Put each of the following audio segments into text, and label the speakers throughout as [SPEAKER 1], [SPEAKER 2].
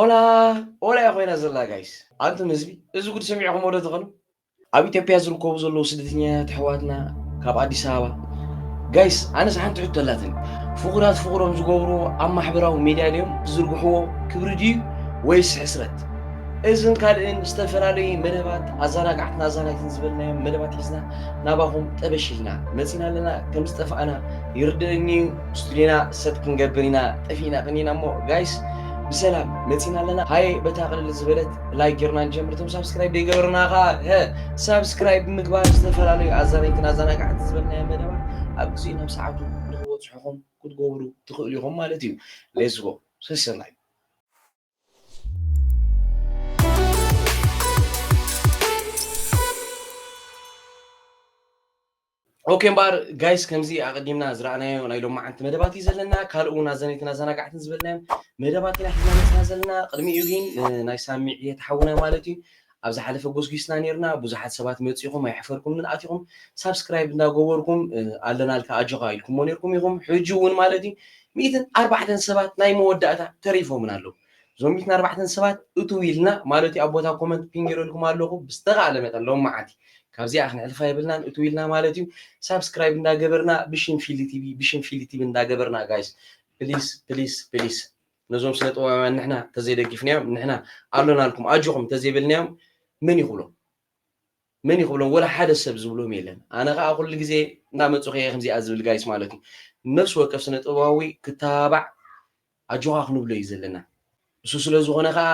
[SPEAKER 1] ኦላ ኦላ እያ ኮይና ዘላ ጋይስ ኣንቱም ህዝቢ እዚ ጉድ ሰሚዕኹም ወደ ትኸኑ ኣብ ኢትዮጵያ ዝርከቡ ዘለዉ ስደተኛታት ኣሕዋትና ካብ ኣዲስ ኣበባ ጋይስ ኣነስ ሓንቲ ሕቶ ኣላትኒ ፍቑራት ፍቑሮም ዝገብርዎ ኣብ ማሕበራዊ ሚድያ ድዮም ዝዝርግሕዎ ክብሪ ድዩ ወይስ ሕስረት እዝን ካልእን ዝተፈላለዩ መደባት ኣዘናጋዕትና ኣዛናይትን ዝበልናዮም መደባት ሒዝና ናባኹም ጠበሽ ኢልና መፂና ኣለና ከም ዝጠፋእና ይርድእኒ እዩ ስቱድዮና ሰብ ክንገብር ኢና ጠፊእና ቀኒና እሞ ጋይስ ብሰላም መፂና ኣለና ሃየ በታ ቅልል ዝበለት ላይክ ጌርና ንጀምር እቶም ሳብስክራይብ ዘይገበርና ከዓ ሳብስክራይብ ብምግባር ዝተፈላለዩ ኣዛናይትን ኣዘናጋዕቲ ዝበልናዮ መደባት ኣብ ግዜኡ ናብ ሰዓቱ ንክበፅሑኹም ክትገብሩ ትኽእሉ ኢኹም ማለት እዩ ሌስጎ ሰሰናዩ ኦኬ እምበኣር ጋይስ ከምዚ ኣቐዲምና ዝረኣናዮ ናይ ሎማዓንቲ መደባት እዩ ዘለና ካልእ እውን ኣዘነይትን ኣዘናጋዕትን ዝበልናዮም መደባት ኢና ሒዝና መፅና ዘለና ቅድሚኡ ግን ናይ ሳሚ ዕየት ሓውና ማለት እዩ ኣብ ዝሓለፈ ጎስጊስና ኔርና ቡዙሓት ሰባት መጺኹም ኣይሐፈርኩምን ኣቲኹም ሳብስክራይብ እንዳገበርኩም ኣለናልካ ኣጆኻ ኢልኩሞ ኔርኩም ኢኹም ሕጂ ውን ማለት ዩ ሚእትን ኣርባዕተን ሰባት ናይ መወዳእታ ተሪፎምና ኣለዉ እዞም ሚእትን ኣርባዕተን ሰባት እትው ኢልና ማለት ዩ ኣብ ቦታ ኮመንት ፒን ጌረልኩም ኣለኹ ብዝተኻእለ መጠን ሎምዓቲ ካብዚኣ ክንሕልፋ የብልናን እትው ኢልና ማለት ዩ ሳብስክራይብ እንዳገበርና ብሽም ፊሊ ቲቪ ብሽም ፊሊ ቲቪ እንዳገበርና ጋይስ ፕሊስ ፕሊስ ፕሊስ ነዞም ስነ ጥበባውያን ንሕና ተዘይደጊፍናዮም ንሕና ኣሎናልኩም ኣጆኹም ተዘይበልናዮም መን ይኽብሎም መን ይኽብሎም ወላ ሓደ ሰብ ዝብሎም የለን ኣነ ከዓ ኩሉ ግዜ እናመፁ ከየ ከምዚኣ ዝብል ጋይስ ማለት እዩ ነፍሲ ወከፍ ስነ ጥበባዊ ክተባባዕ ኣጆኻ ክንብሎ እዩ ዘለና እሱ ስለ ዝኾነ ከዓ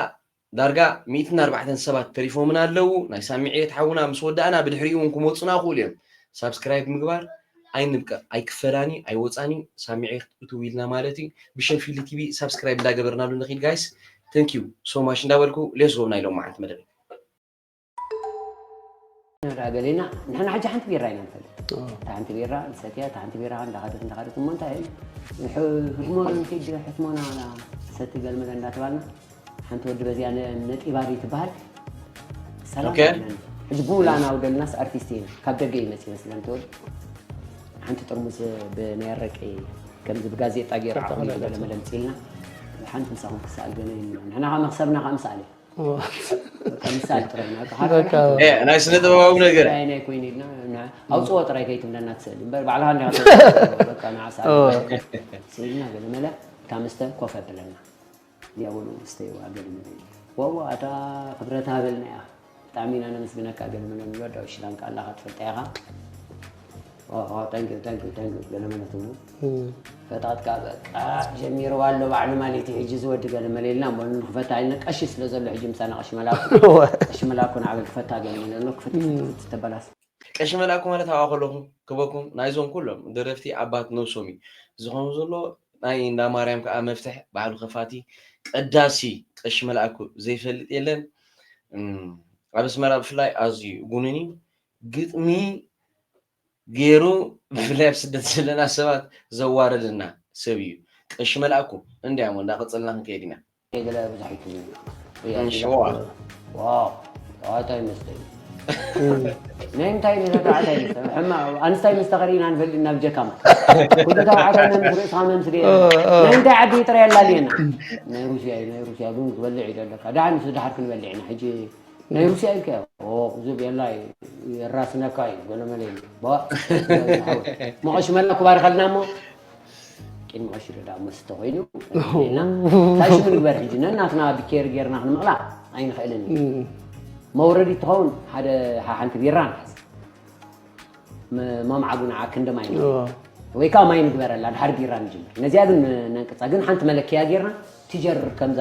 [SPEAKER 1] ዳርጋ ሚእትን ኣርባዕተን ሰባት ተሪፎምና ኣለዉ ናይ ሳሚ ዕየት ሓውና ምስ ወዳእና ብድሕሪኡ ውን ክመጹና ይክእሉ እዮም ሳብስክራይብ ምግባር ኣይንብቀቅ ኣይክፈላን እዩ ኣይወጻን እዩ ሳሚ ዕየት እትው ኢልና ማለት እዩ ብሽም ፊሊ ቲቪ ሳብስክራይብ እንዳገበርናሉ ንኪድ ጋይስ ተንኪው ሶማች እንዳበልኩ ሌስጎ ናይ ሎማዓንቲ መደበይ።
[SPEAKER 2] ንርኣ ገሊና ንሕና ሕጂ ሓንቲ ቢራ ኢና ንፈልጥ እታ ሓንቲ ቢራ ንሰትያ እታ ሓንቲ ቢራ እንዳኸደት እንዳኸደት እሞ እንታይ ህድሞና ንኪድ ሕትሞና ሰቲ ገልመለ እንዳተባልና ሓንቲ ወዲ በዚኣ ነጢባሪ ትበሃል ሰላም ኣለና
[SPEAKER 1] ሕጂ ብውላና
[SPEAKER 2] ውደልናስ ኣርቲስት ኢና ካብ ደገ እዩ መፅእ መስለን ተወዲ ሓንቲ ጥርሙስ ብናይ ኣረቂ ከምዚ ብጋዜጣ ገይሩ ዓቕሚ ገለመለ ምፅልና ሓንቲ ምሳኹም ክሰኣል ገለ ንሕና ከዓ መክሰብና ከዓ ምሰኣል እዩ ምሳሌ ጥራይ ኢና በቃ ሓደ በቃ ሓደ እ፣ ናይ
[SPEAKER 1] ስነ ጥበባዊ ነገር ናይ ናይ ኮይኑ ኢልና
[SPEAKER 2] ና- ኣውፅኦ ጥራይ ከይትብለና ትስእሊ እምበር ባዕልኻ እንዲኻ ተውፅኦ። በቃ ንዓሳ ስኢልና ገለ መለ እታ መስተ ኮፍ ኣብለና እዚኣ በሉ ስተይዋ ገለ መለ ኢሉ። ዋዋ እታ ክብረት ሃበልና ኢኻ ብጣዕሚ ኢና ነመስግነካ ገለ መለ ንብሎ ዳዊት ሽላንካ ኣላኻ ትፈልጣ ኢኻ ኦሆ ታንኪው ታንኪው ታንኪው ገለመለት እሞ ፈጣጥካ በቃ ጀሚርዋ ኣሎ ባዕሉ ማለት እዩ ሕጂ እዚ ወዲ ገለመለ ኢልና እሞ ንክፈታ ኢልና ቀሺ ስለ ዘሎ ሕጂ ምሳና ቀሺ መላኩ እወ ቀሺ መላኩ ንዓበይ ክፈታ ገለመለ ኣሎ ክፍት ክፍት ክፍት ተበላስ ቀሺ መላኩ
[SPEAKER 1] ማለት ኣብኣ ከለኹ ክበኩም ናይዞም ኩሎም ደረፍቲ ኣባት ነብሶም እዩ ዝኸውን ዘሎ ናይ እንዳ ማርያም ከኣ መፍትሕ ባዕሉ ከፋቲ ቀዳሲ ቀሺ መላኩ ዘይፈልጥ የለን እም ኣብ ኣስመራ ብፍላይ ኣዝዩ ጉኑን እዩ ግጥሚ ጌሩ ብፍላይ ኣብ ስደት ዘለና ሰባት ዘዋርደና ሰብ እዩ ቀሺ መልኣኩ እንድያሞ እንዳ ቀጽልና ክንከይድ ኢና ገለ
[SPEAKER 2] ኣብዛሒኩም ሸዋ
[SPEAKER 1] ዋዋታይ መስተይ
[SPEAKER 2] ናይ ምንታይ ነታተዓት ኣይመስለ ሕማ ኣንስታይ ምስ ተኸሪና ንፈልጥ ናብ ጀካማ ኩሉ ተባዕታይ መምስ ርእስኻ መምስ ደ ናይ ምንታይ ዓዲ ጥራይ ኣላልየና ናይ ሩስያ እዩ ናይ ሩስያ ግን ክበልዕ እዩ ደለካ ደሓን ምስ ድሓር ክንበልዕ ኢና ሕጂ ናይ ሩስያ ኢልካዮ ኦክ ዙብ የላ እዩ የራስነካ እዩ ገለመለ ኢሉ ባእ ዳዊት ዝሓወይ መቐሽ መላ ክባርኸልና እሞ ቂን መቐሽ ኢሉ ዳ መስተ ኮይኑ ና እንታይ ሽሙ ንግበር ሕጂ ነናትና ብኬር ጌርና ክንምቕላ ኣይንኽእልን እዩ መውረዲ ትኸውን ሓደ ሓንቲ ቢራ ንሓዝ መምዓጉ ንዓ ክንዲ ማይ እዩ ወይ ከዓ ማይ ንግበረላ ድሓር ቢራ ንጅምር ነዚኣ ግን ነንቅፃ ግን ሓንቲ መለክያ ጌርና ትጀር ከምዛ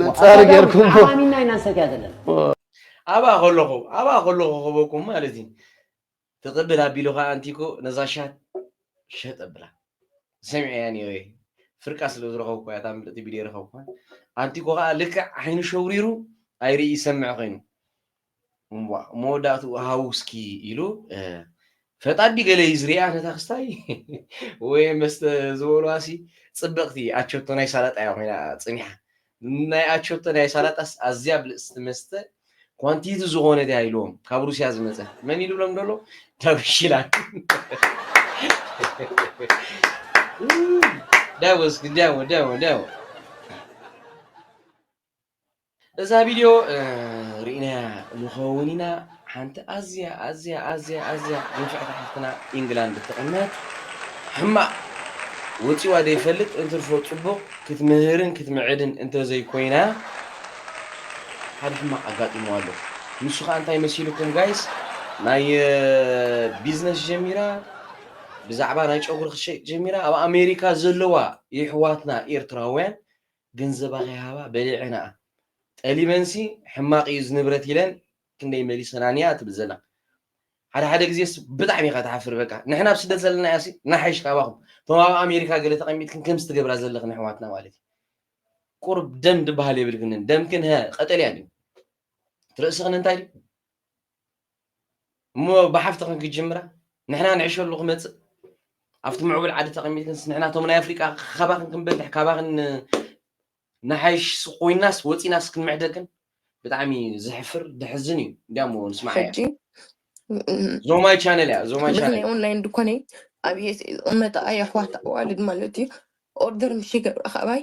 [SPEAKER 3] መፃር ጌርኩም ዓማሚና ኢና ንሰትያ
[SPEAKER 2] ዘለና ኣብኣ
[SPEAKER 1] ከለኹ ኣብኣ ከለኹ ክበኩም ማለት እዩ ትቕብል ኣቢሉ ከዓ ኣንቲኮ ነዛ ሻት ሸጥ ኣብላ ሰሚዐያ ነይረ ፍርቃ ስለ ዝረኸብኩ እያ እታ ምልእቲ ቢልየ ረኸብኩ ኣንቲኮ ከዓ ልክዕ ዓይኑ ሸውሪሩ ኣይርኢ ይሰምዕ ኮይኑ መወዳእትኡ ሃውስኪ ኢሉ ፈጣዲ ገለ እዩ ዝርኣ ነታ ክስታይ ወይ መስተ ዝበልዋሲ ፅብቕቲ ኣቸቶ ናይ ሳላጣ እያ ኮይና ፅኒሓ ናይ ኣቸቶ ናይ ሳላጣስ ኣዝያ ብልፅቲ መስተ ኳንቲቲ ዝኾነት እያ ኢልዎም ካብ ሩስያ ዝመፀት መን ኢሉ ብሎም ደሎ ዳዊሽላን ዳወስ ዳወ ዳወ ዳወ እዛ ቪድዮ ርኢናያ ንኸውን ኢና ሓንቲ ኣዝያ ኣዝያ ኣዝያ ኣዝያ ንፍዕቲ ሓፍትና ኢንግላንድ ትቕመጥ ሕማቕ ወጺዋ ዘይፈልጥ እንትርፎ ጽቡቕ ክትምህርን ክትምዕድን እንተዘይኮይና ሓደ ሕማቕ ኣጋጢምዋ ኣሎ ንሱ ከኣ እንታይ መሲልኩም ጋይስ ናይ ቢዝነስ ጀሚራ ብዛዕባ ናይ ጨጉሪ ክትሸይጥ ጀሚራ ኣብ ኣሜሪካ ዘለዋ የሕዋትና ኤርትራውያን ገንዘባ ከይሃባ በሊዐናኣ ጠሊመንሲ ሕማቅ እዩ እዚ ንብረት ኢለን ክንደይ መሊሰናን እያ ትብል ዘላ ሓደ ሓደ ግዜስ ብጣዕሚ ኢኻ ትሓፍር በቃ ንሕና ኣብ ስደት ዘለና እያሲ ንሓይሽ ካባኹም እቶም ኣብ ኣሜሪካ ገለ ተቐሚጥክን ከምዚ ትገብራ ዘለኽን ኣሕዋትና ማለት እዩ ቁርብ ደም ድበሃል የብልክንን ደምክን ሀ ቀጠልያ ድዩ ትርእስኽን እንታይ ድዩ እሞ ብሓፍትኽን ክጅምራ ንሕና ንዕሸሉ ክመጽእ ኣብቲ ምዕቡል ዓዲ ተቐሚጥክንስ ንሕና እቶም ናይ ኣፍሪቃ ካባኽን ክንበልሕ ካባኽን ንሓይሽ ኮይናስ ወፂናስ ክንምዕደክን ብጣዕሚ ዘሕፍር ደሕዝን እዩ እንዲያሞ ንስማዕ ሕጂ ዞማይ ቻነል እያ ዞማይ ቻነል ብፍላይ ኦንላይን ድኳነ
[SPEAKER 4] ኣብየ ዝቕመጣ ኣይ ኣሕዋት ኣዋልድ ማለት እዩ ኦርደር ምሽ ይገብራ ካባይ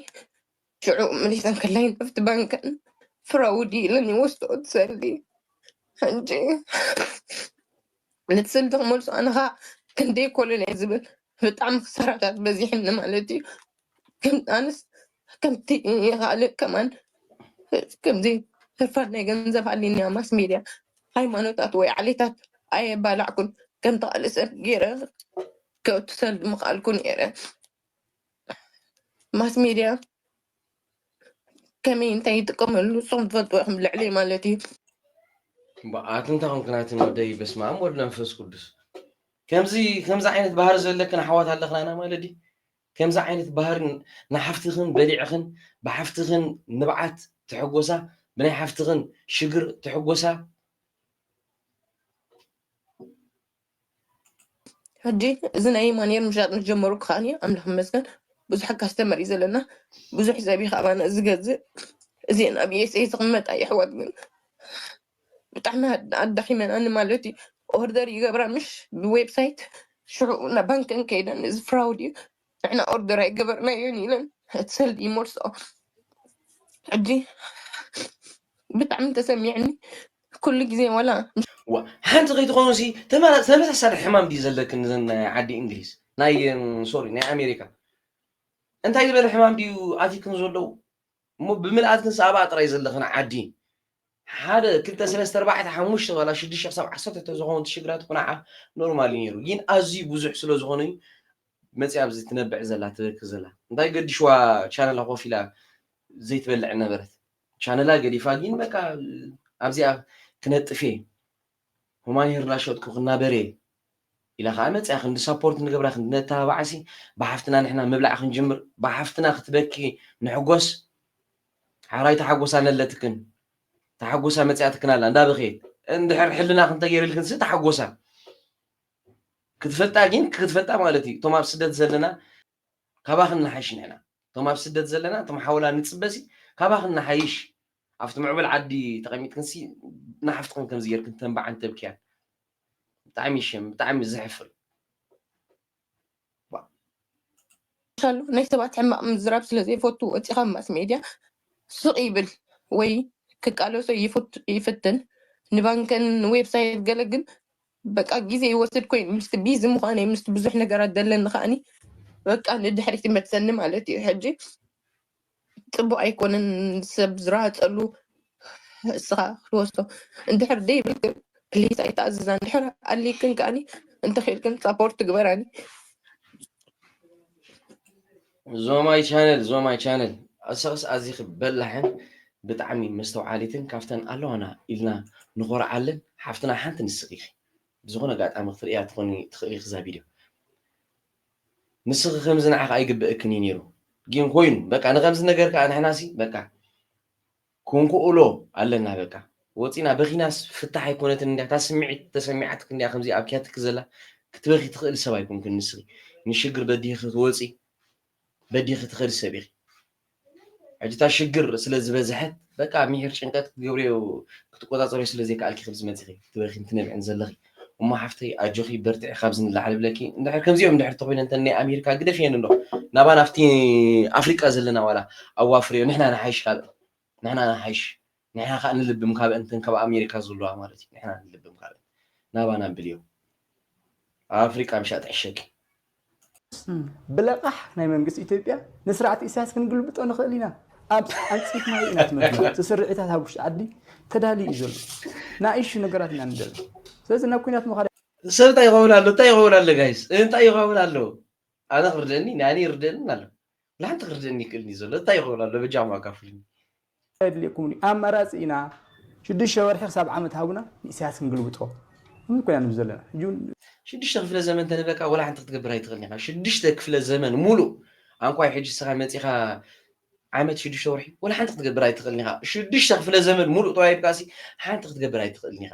[SPEAKER 4] ሽዑ ምሊሰን ክለይን ኣብቲ ባንከን ፍራውዲ ኢለን ይወስድኦ እቲ ሰልዲ ሕጂ ነቲ ሰልዲ ክመልሶ ኣነ ከዓ ክንደይ ኮለል እየ ዝብል ብጣዕሚ ክሳራታት በዚሕኒ ማለት እዩ ከም- ኣነስ ከምቲ ካልእ ከማን ከምዚ ህርፋን ናይ ገንዘብ ሃሊኒያ ማስ ሜድያ ሃይማኖታት ወይ ዓሌታት ኣየባላዕኩን ከምቲ ካልእ ሰብ ገይረ ከእቱ ሰልዲ ምኽኣልኩ ነይረ ማስ ሜድያ ከመይ እንታይ ይጥቀመሉ ንስኹም ትፈልጡ ኢኹም ልዕሊ ማለት እዩ
[SPEAKER 1] በኣት እንታይ ኮንክ ናትን ወደይ በስመ ኣብ ወልድ መንፈስ ቅዱስ ከምዚ ከምዚ ዓይነት ባህሪ ዘለክን ኣሕዋት ኣለኽናና ማለት ድዩ ከምዚ ዓይነት ባህሪ ንሓፍትኽን በሊዕኽን ብሓፍትኽን ንብዓት ትሕጎሳ ብናይ ሓፍትኽን ሽግር ትሕጎሳ
[SPEAKER 4] ሕጂ እዚ ናይ ማንየር ምሻጥ ምስ ጀመሩ ከዓ ኣምላኽ ይመስገን ብዙሕ ካስተመር እዩ ዘለና ብዙሕ ሰብ እዩ ከኣባና ዝገዝእ እዚአን ኣብ ዩኤስኤ ዝቕመጣ የሕዋት ግን ብጣዕሚ ኣድ- ኣዳኺመናኒ ማለት እዩ ኦርደር ይገብራ ምሽ ብዌብሳይት ሽዑ ናብ ባንከን ከይደን እዚ ፍራውድ እዩ ንሕና ኦርደር ኣይገበርናዮን ኢለን እቲ ሰልዲ ይመልስኦ ሕጂ ብጣዕሚ ተሰሚዕኒ ኩሉ ግዜ ዋላ ዋ ሓንቲ
[SPEAKER 1] ከይትኾኑ ሲ ተመራ- ተመሳሳሊ ሕማም ድዩ ዘለክን ንዘን ናይ ዓዲ እንግሊዝ ናይ ሶሪ ናይ ኣሜሪካ እንታይ ዝበለ ሕማም ድዩ ኣትክን ዘለዉ እሞ ብምልኣት ክንሳ ኣብኣ ጥራይ ዘለኽን ዓዲ ሓደ ክልተ ሰለስተ ኣርባዕተ ሓሙሽተ ዋላ ሽዱሽተ ክሳብ ዓሰርተ ተዝኸውን እቲ ሽግራት ቁናዓ ኖርማል እዩ ነይሩ ጊን ኣዝዩ ብዙሕ ስለዝኾነ እዩ መጺኣ ኣብዚ ትነብዕ ዘላ ትበኪ ዘላ እንታይ ገዲሽዋ ቻነላ ኮፍ ኢላ ዘይትበልዕ ነበረት ቻነላ ገዲፋ ጊን በቃ ኣብዚኣ ክነጥፍ እየ ሁማን ሄር ናሸጥኩ ክናበር እየ ኢላ ከኣ መጽያ ክንዲ ሳፖርት ንገብራ ክንዲ ነተባብዓሲ ብሓፍትና ንሕና ምብላዕ ክንጅምር ብሓፍትና ክትበኪ ንሕጎስ ሓራይ ተሓጎሳ ኣለትክን ተሓጎሳ መጽያትክን ኣላ እንዳ በኸየት እንድሕር ሕልናክ እንተገይርልክንሲ ተሓጎሳ ክትፈልጣ ግን ክትፈልጣ ማለት እዩ እቶም ኣብ ስደት ዘለና ካባክን ንሓይሽ ንሕና እቶም ኣብ ስደት ዘለና እቶም ሓውላ ንጽበሲ ካባክን ንሓይሽ ኣብቲ ምዕቡል ዓዲ ተቐሚጥክንሲ ንሓፍትክን ከምዚ ጌርክን ተንብዓን ተብክያን ብጣዕሚ ሸም ብጣዕሚ ዘሕፍር
[SPEAKER 4] ቻሉ ናይ ሰባት ሕማቅ ምዝራብ ስለ ዘይፈቱ ወፂኻ ማስ ሜድያ ስቅ ይብል ወይ ክቃለሶ ይፍትን ንባንከን ንዌብሳይት ገለ ግን በቃ ግዜ ይወስድ ኮይኑ ምስቲ ቢዚ ምዃነይ ምስቲ ብዙሕ ነገራት ዘለኒ ከዓኒ በቃ ንድሕሪት ይመልሰኒ ማለት እዩ ሕጂ ፅቡቅ ኣይኮነን ሰብ ዝረሃፀሉ እስኻ ክትወስዶ እንድሕር ዘይብልክን ፕሊስ ኣይተኣዝዛ እንድሕር ኣልይክን ከዓኒ እንተኽኢልክን ሳፖርት ትግበራኒ
[SPEAKER 1] ዞማይ ቻነል ዞማይ ቻነል ኣሰኽስ ኣዚኺ በላሕን ብጣዕሚ መስተውዓሊትን ካብተን ኣለዋና ኢልና ንኾርዓለን ሓፍትና ሓንቲ ንስኺ ኢኺ ብዝኾነ ኣጋጣሚ ክትርእያ ትኾኒ ትኽእሊ ኢኺ እዛ ቪድዮ ንስኺ ከምዚ ንዓኺ ኣይግበእክን እዩ ኔሩ ጊን ኮይኑ በቃ ንከምዚ ነገር ከኣ ንሕና ሲ በቃ ኩንኩኡሎ ኣለና በቃ ወጺና በኺናስ ፍታሕ ኣይኮነትን እንድያ እታ ስሚዒት ተሰሚዓትኪ እንድያ ከምዚ ኣብክያትኪ ዘላ ክትበኺ ትኽእሊ ሰብ ኣይኮንክን ንስኺ ንሽግር በዲህኺ ትወጺ በዲህኺ ትኸዲ ሰብ ኢኺ ሕጂ እታ ሽግር ስለ ዝበዝሐት በቃ ሚሒር ጭንቀት ክትገብርዮ ክትቆጻጸርዮ ስለ ዘይከኣልኪ ከምዚ መጺኺ ክትበኽይን ትነብዕን ዘለኺ እሞ ሓፍተይ ኣጆኺ በርትዒ ካብዚ ንላዕሊ እብለኪ እንድሕር ከምዚኦም እንድሕር ተኾይነን እተን ናይ ኣሜሪካ ግደፍየን እንዶ ናባና ኣብቲ ኣፍሪቃ ዘለና ዋላ ኣዋፍርዮ ንሕና ንሓይሽ ካብእን ንሕና ንሓይሽ ንሕና ካኣ ንልብም ካበእን እተን ካብ ኣሜሪካ ዝልዋ ማለት እዩ ንሕና ንልብም ካበእን ናባና ኣብልዮ ኣብ ኣፍሪቃ ምሻጥ ዕሸኪ።
[SPEAKER 5] ብለቓሕ ናይ መንግስቲ ኢትዮጵያ ንስርዓት ኢሳያስ ክንግልብጦ ንኽእል ኢና ኣብ ኣንጺፍ ማይ ኢና ትመርሑ እቲ ስርዒታት ኣብ ውሽጢ ዓዲ ተዳልዩ እዩ ዘሎ ናኢሹ ነገራት ኢና ንደሊ ስለዚ ናብ ኩናት ምኻድ ሰብ እንታይ ይኸውን ኣሎ
[SPEAKER 1] እንታይ ይኸውን ኣሎ ጋይስ እንታይ ይኸውን ኣሎ ኣነ ክርደኒ ንኣኒ ይርደንን ኣሎ ንሓንቲ ክርደኒ ይክእልን እዩ ዘሎ እንታይ ይኸውን ኣሎ በጃኹም ኣካፍሉኒ እንታይ ኣድልየኩም
[SPEAKER 5] ድዩ ኣማራጺ ኢና ሽዱሽተ ወርሒ ክሳብ ዓመት ሃቡና ንኢሰያስ ክንግልብጦ ን ኮይና ንብ ዘለና ሕጂ ውን ሽዱሽተ ክፍለ
[SPEAKER 1] ዘመን ተንህበካ ወላ ሓንቲ ክትገብር ኣይትኽእልን ኢኻ ሽዱሽተ ክፍለ ዘመን ሙሉእ ኣንቋይ ሕጂ እስኻ መጺኻ ዓመት ሽዱሽተ ወርሒ ወላ ሓንቲ ክትገብር ኣይትኽእልን ኢኻ ሽዱሽተ ክፍለ ዘመን ሙሉእ ተዋሂብካሲ ሓንቲ ክትገብር ኣይትኽእልን ኢኻ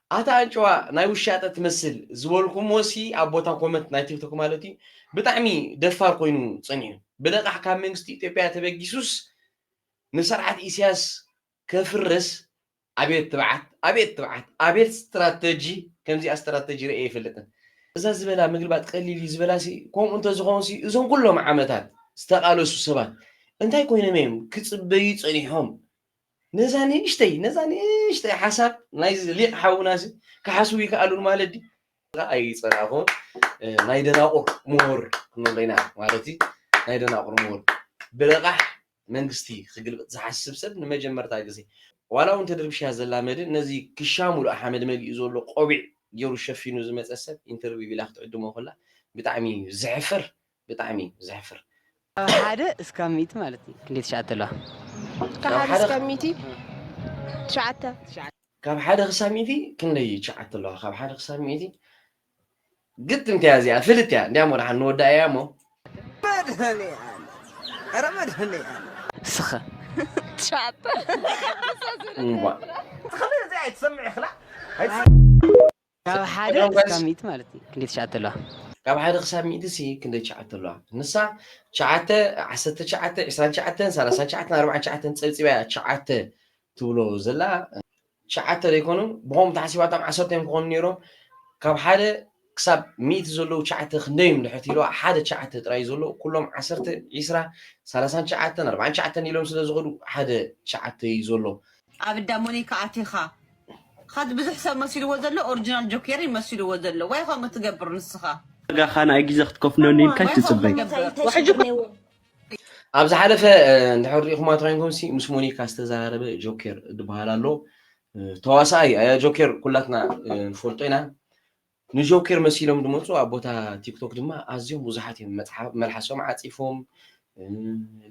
[SPEAKER 1] ኣታ ኣንጭዋ ናይ ውሻጠ ትመስል ዝበልኩምዎሲ ኣብ ቦታ ኮመንት ናይ ቲክቶክ ማለት እዩ ብጣዕሚ ደፋር ኮይኑ ጸኒሑ ብለቃሕ ካብ መንግስቲ ኢትዮጵያ ተበጊሱስ ንሰርዓት ኢስያስ ከፍርስ ኣቤት ትብዓት ኣቤት ትብዓት ኣቤት ስትራተጂ ከምዚኣ ስትራተጂ ርእየ ኣይፈልጥን እዛ ዝበላ ምግልባጥ ቀሊል እዩ ዝበላሲ ከምኡ እንተዝኸውንሲ እዞም ኩሎም ዓመታት ዝተቃለሱ ሰባት እንታይ ኮይኖም እዮም ክጽበዩ ጸኒሖም ነዛ ንእሽተይ ነዛ ንእሽተይ ሓሳብ ናይዚ ሊቅ ሓውና እዚ ክሓስቡ ይከኣሉን ማለት ድዩ ኣይጸናኹን ናይ ደናቑር ምሁር ክንብሎ ኢና ማለት እዩ ናይ ደናቑር ምሁር ብልቓሕ መንግስቲ ክግልብጥ ዝሓስብ ሰብ ንመጀመርታ ግዜ ዋላ እውን ተድርብሽያ ዘላ መድን ነዚ ክሻ ሙሉእ ሓመድ መሊኡ ዘሎ ቆቢዕ ገይሩ ሸፊኑ ዝመፀ ሰብ ኢንተርቪው ቢላ ክትዕድሞ ከላ ብጣዕሚ እዩ ዘሕፍር ብጣዕሚ እዩ ዘሕፍር። ካብ ሓደ
[SPEAKER 6] እስካብ ሚእቲ ማለት እዩ ክንደይ ትሽዓተ ኣለዋ? ካብ
[SPEAKER 7] ሓደ እስካብ ሚእቲ ትሽዓተ። ካብ
[SPEAKER 1] ሓደ ክሳብ ሚእቲ ክንደይ እዩ ትሽዓተ ኣለዋ? ካብ ሓደ ክሳብ ሚእቲ ግጥምቲ እያ እዚኣ ፍልጥቲ እያ እንድያም ወድሓን ንወድኣ እያ እሞ።
[SPEAKER 6] መድሀኔኣለም ኧረ መድሀኔኣለም። እስኸ ትሽዓተ።
[SPEAKER 7] እምቧእ።
[SPEAKER 5] ትኽክል እዚኣ ኣይትሰምዕ ኢኽላ።
[SPEAKER 6] ካብ ሓደ ክሳብ ሚእቲ ማለት እዩ ክንደይ ትሽዓተ ኣለዋ? ካብ ሓደ ክሳብ
[SPEAKER 1] ሚእቲ ሲ ክንደይ ትሽዓተ ኣለዋ? ንሳ ትሽዓተ፣ ዓሰርተ ትሽዓተ፣ ዕስራን ትሽዓተን፣ ሰላሳን ትሽዓተን፣ ኣርብዓን ትሽዓተን ጸብጺባ እያ ትሽዓተ ትብሎ ዘላ። ትሽዓተ ዶ ኣይኮኑን? ብኸምኡ ተሓሲባቶም ዓሰርተ እዮም ክኾኑ ነይሮም። ካብ ሓደ ክሳብ ሚእቲ ዘለዉ ትሽዓተ ክንደይ እዮም ድሕር ትብልዋ ሓደ ትሽዓተ ጥራይ እዩ ዘሎ። ኩሎም ዓሰርተ፣ ዕስራ፣ ሰላሳን ትሽዓተን፣ ኣርብዓን ትሽዓተን ኢሎም ስለ ዝኸዱ ሓደ ትሽዓተ እዩ ዘሎ። ኣብ እዳ ሞኒካ
[SPEAKER 8] ኣቲኻ ኻዚ ብዙሕ ሰብ መሲልዎ ዘሎ ኦርጅናል ጆኬር እዩ መሲልዎ ዘሎ ዋይ ከምኡ ትገብር ንስኻ። ዋጋኻ ንኣይ ግዜ
[SPEAKER 9] ክትከፍለኒ ኢልካ ኣይትጽበይ። ዋሕጂ እኮ
[SPEAKER 1] ኣብ ዝሓለፈ እንድሕር ሪኢኹማ ተኮይንኩምሲ ምስ ሞኒካ ዝተዘራረበ ጆኬር ዝበሃል ኣሎ ተዋሳኣይ ኣያ ጆኬር ኩላትና ንፈልጦ ኢና ንጆኬር መሲሎም ዝመጹ ኣብ ቦታ ቲክቶክ ድማ ኣዝዮም ብዙሓት እዮም መልሓሶም ዓጺፎም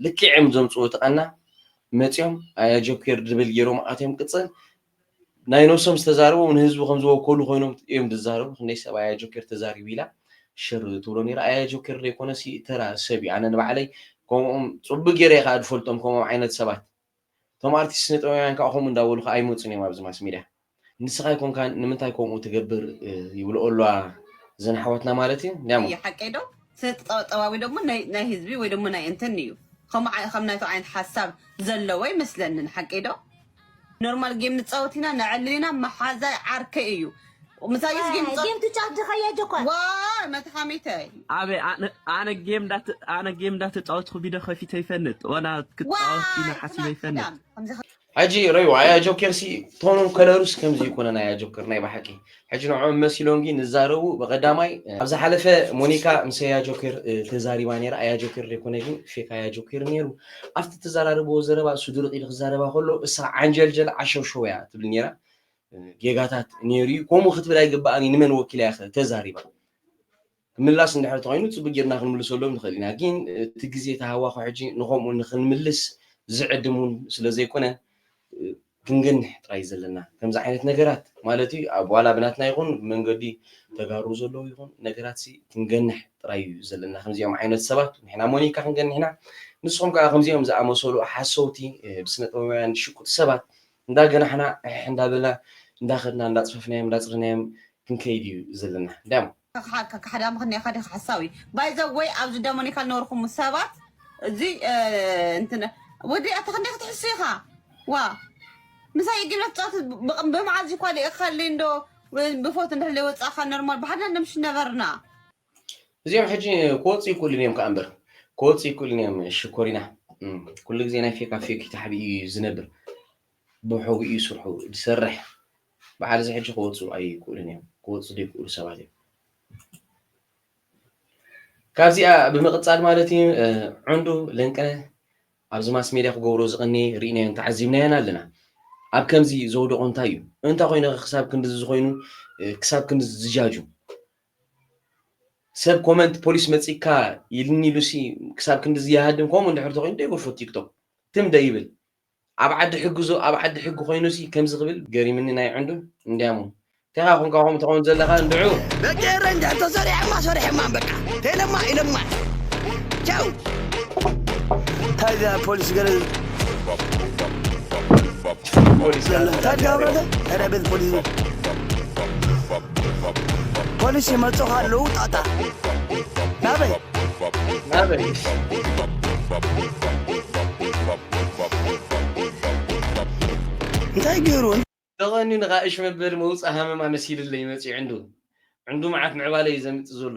[SPEAKER 1] ልክዕ እዮም ዘምጽኡ እቲ ቀና መጺኦም ኣያ ጆኬር ድብል ገይሮም ኣትዮም ቅጽል ናይ ነብሶም ዝተዛረቡ ንህዝቢ ከም ዝወከሉ ኮይኖም እዮም ዝዛረቡ ክንደይ ሰብ ኣያ ጆኬር ተዛሪቡ ኢላ ሽር ትብሎ ነራ ኣያ ጆኬር ዘይኮነሲ ተራ ሰብ እዩ ኣነ ንባዕለይ ከምኦም ፅቡቅ ገይረ ከዓ ዝፈልጦም ከምኦም ዓይነት ሰባት እቶም ኣርቲስት ስነ ጥበባውያን ከኣ ከምኡ እንዳበሉ ከኣ ኣይመጹን እዮም ኣብዚ ማስ ሚድያ ንስኻ ኣይኮንካን ንምንታይ ከምኡ ትገብር ይብልኦ ኣለዋ እዘን ኣሕዋትና ማለት እዩ እንዲያሞ። እዩ ሓቀይ ዶ
[SPEAKER 8] ስነ ጥጠበጠባዊ ደሞ ናይ ናይ ህዝቢ ወይ ደሞ ናይ እንትን እዩ ከምኡ ዓይ ከም ናይቶ ዓይነት ሓሳብ ዘለዎ ኣይመስለንን ሓቀይ ዶ ኖርማል ጌም ንጻወት ኢና ነዕልል ኢና መሓዛይ ዓርከይ እዩ ምሳይስ ጌም ጌም ትጫወት ድኸየ
[SPEAKER 7] ጆኳ ዋ
[SPEAKER 8] መትሓሚተ ኣበ
[SPEAKER 9] ኣነ ጌም ዳት ኣነ ጌም ዳት ተጫወትኩ ቪድዮ ከፊተ ይፈንጥ ወላ ክትጫወት ኢና ሓሲበ ይፈንጥ ሕጂ
[SPEAKER 1] ረዩ ኣያ ጆከር ሲ ቶኑን ከለሩስ ከምዚ ይኮነ ናያ ጆከር ናይ ባሓቂ ሕጂ ንዕኦም መሲሎም ግን ንዛረቡ ብቀዳማይ ኣብ ዝሓለፈ ሞኒካ ምስ ኣያ ጆከር ተዛሪባ ነራ ኣያ ጆከር ዘይኮነ ግን ፌክ ኣያ ጆከር ነሩ ኣብቲ ተዘራርብዎ ዘረባ እሱ ድርቅ ኢሉ ክዛረባ ከሎ እሳ ዓንጀልጀል ዓሸውሸው እያ ትብል ነራ ጌጋታት ኔሩ እዩ ኮምኡ ክትብል ኣይግባኣን እዩ ንመን ወኪላ እያ ከ ተዛሪባ ክምላስ እንድሕር ተኮይኑ ጽቡቅ ጌርና ክንምልሰሎም ንክእል ኢና ግን እቲ ግዜ ተሃዋኩ ሕጂ ንከምኡ ንክንምልስ ዝዕድም ውን ስለ ዘይኮነ ክንገንሕ ጥራይ ዘለና ከምዚ ዓይነት ነገራት ማለት እዩ ኣብ ዋላ ብናትና ይኩን ብመንገዲ ተጋሩ ዘለዉ ይኩን ነገራት ሲ ክንገንሕ ጥራይ እዩ ዘለና ከምዚኦም ዓይነት ሰባት ንሕና ሞኒካ ክንገንሕ ኢና ንስኩም ከኣ ከምዚኦም ዝኣመሰሉ ሓሰውቲ ብስነጥበባውያን ዝሽቁጡ ሰባት እንዳ ገናሕና ዕሕሕ እንዳ በልና እንዳ ከድና እንዳ ጽፈፍናዮም እንዳ ጽረናዮም ክንከይድ እዩ ዘለና ዳም። ተኻሓካ ካሕዳም ምኽንያ
[SPEAKER 8] ኢኻ ዲኻ ሓሳዊ ባይ ዘ ወይ ኣብዚ ደሞኒካ ልነበርኹም ሰባት እዚ እንትን ወዲ ኣታ ክንደይ ክትሕሱ ኢኻ ዋ ምሳይ እጊብለ ትጻወት ብመዓዝ እዩ ኳሊእካለይ እንዶ ብፎት እንድሕር ለይ ወጻእካ ኖርማል ብሓድና ነምሽ ነበርና እዚኦም
[SPEAKER 1] ሕጂ ክወፁ ይክእሉን እዮም ከዓ እምበር ክወፁ ይክእሉን እዮም ሽኮሪና ኩሉ ግዜ ናይ ፌካ ፌክ ታሕቢ እዩ ዝነብር ብሕቡ እዩ ስርሑ ዝሰርሕ በዓል እዚ ሕጂ ክወፁ ኣይክእሉን እዮም ክወፁ ዘይክእሉ ሰባት እዮም ካብዚኣ ብምቕፃል ማለት እዩ ዕንዱ ለንቀነ ኣብዚ ማስ ሜድያ ክገብሮ ዝቐኒ ርኢናዮን ተዓዚብናዮን ኣለና ኣብ ከምዚ ዘውደቖ እንታይ እዩ እንታይ ኮይኑ ክሳብ ክንዲ ዝኾይኑ ክሳብ ክንዲ ዝጃጁ ሰብ ኮመንት ፖሊስ መጺካ ኢልኒ ኢሉሲ ክሳብ ክንድዚ ይሃድም ከምኡ እንድሕር ተኮይኑ ዶ ይጎፎ ቲክቶክ ትም ዶ ይብል ኣብ ዓዲ ሕጊ ዞ ኣብ ዓዲ ሕጊ ኮይኑሲ ከምዚ ክብል ገሪምኒ ናይ ዕንዱ እንድያሞ እንታይካ ኮንካ ከምኡ ትከውን ዘለካ እንድዑ ደቂ ኤረይ እንድሕር
[SPEAKER 10] ተሰሪሖማ ሰሪሖማ በቃ ተኢለማ ኢለማ ቻው እንታይ ፖሊስ ገለ ፖሊስ ረብል ፖሊስ ፖሊስ ይመፁ ካለዉ ጣጣ
[SPEAKER 1] ናበይ
[SPEAKER 10] ናበይ እንታይ ገይሩ ተቐንዩ ንኻ
[SPEAKER 1] እሽ መበሊ መውፅእ ሃመማ መሲልለይ መፂኡ ዕንዱ ዕንዱ መዓት ምዕባለ እዩ ዘምፅእ ዘሎ